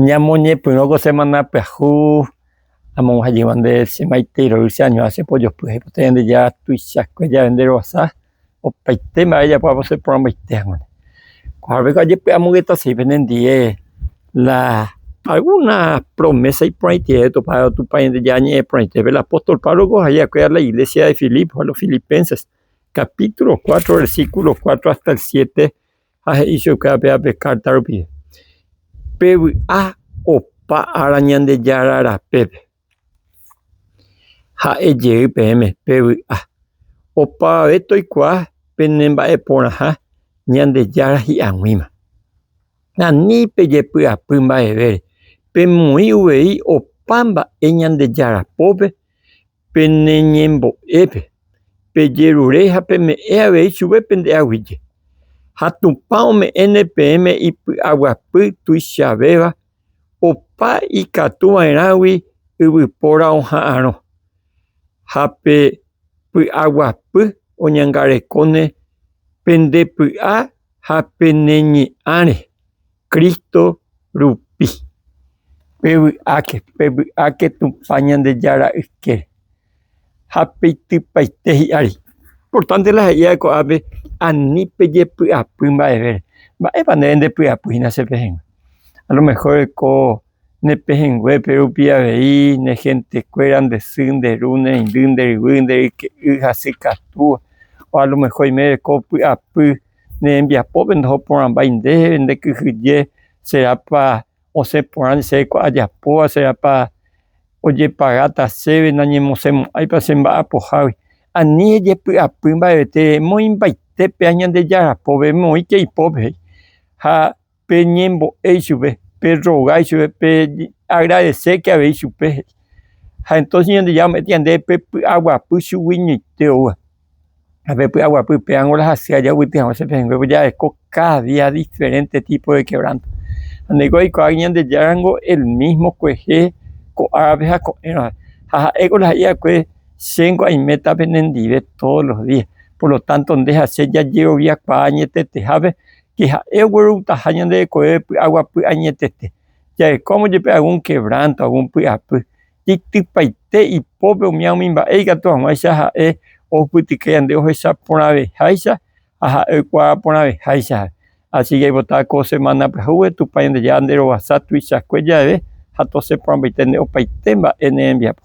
Ñamoñepyrõ ko semana pyahu amonguha jegua nde che maite iroy che añuha che pojopy aipota Ñandejára tuichakue jave nde roasa opaite mba'e ejapo apo che porãmbaite haguã koha peko ajepe amogeta sei pende ndie la alguna promesa iporãite jave topado Tupã Ñandejára ñe'ẽ porãite pe la apóstol Pablo ko ja'e akué a la iglesia de Filipo a los filipenses capítulo cuatro versículo cuatro hasta el siete ha he'i chupe ape ape kárta rupi, Pevy'a opa ára Ñandejára rapépe. Ha'e jey peẽme, Pevy'a. Opavave toikuaa penemba'eporãha Ñandejára hi'aguĩma. Ani pejepy'apy mba'evére, pemoĩ uvei opa mba'e Ñandejára pópe, Pene ñembo'épe, pejerure ha peme'ẽ avei chupe pende aguije. Ha Tupã ome'ẽne peẽme ipy'aguapy tuichavéva opa ikatu va'erãgui yvypóra oha'arõ. Ha pe py'aguapy oñangarekóne pende py'a ha pene ñe'ãre. Cristo rupi. Pevy'áke, pevy'áke Tupã Ñandejára yke, ha peitypaite hi'ári. Importante la he'íva ko'ápe ani pejepy'apy mba'eve. Mba'épa ndéve ndepy'apy hína che pehẽngue? A lo mejor ko ne pehẽnguépe rupi avei ne gentekuéra nde sy, nde ru, ne reindy, nde ryvy, nde ryke'y hasy katúva. O a lo mejor oiméreko py'apy ne rembiapópe ndaho porãmbái ndéve, nde kyhyje, serápa osẽ porã chéve kua ajapóva, serápa ojepagáta chéve, nañemosemo'ãipa che mba'apohágui, ani ejepy'apy mba'evete, emoĩ mbaitépe ha Ñandejára pópe, emoĩke ipópe, ha pe ñembo'e ichupe, pe roga ichupe, pe agradecéke avei ichupe. Ha entonce ñandejára ombo'éta ñande pe py'aguapy chuguiñoite ouva. Ha pe py'aguapy upéramo la hasy aja ovyty haguã che pehẽngue ojereko cada día diferente tipo de quebranto. Ha ndéiko oikuaáke ñandejára ningo el mismo kuehe ko'ápe ha ko'ẽrõ. Ha ha'éko la ha'i va'ekue che ningo aiméta penendive todos los días, por lo tanto nde ha che jajeroviakuaa añetetehápe que ha'e ogueroutaha ñande rekove py'aguapy añetete, jarekómo jepe algún quebranto, algún py'apy, itypaite ipópe omía umi mba'e ikatu hag̃uáicha ha'e ohupytyke yande ohecha porãveháicha ha ha'e oikuaa porãveháicha. Asi que aipota ko semana pyahúgui Tupã Ñandejára nde rovasa tuichakue jave ha tosẽ porãmbaite nde opaite mba'e ne rembiapo.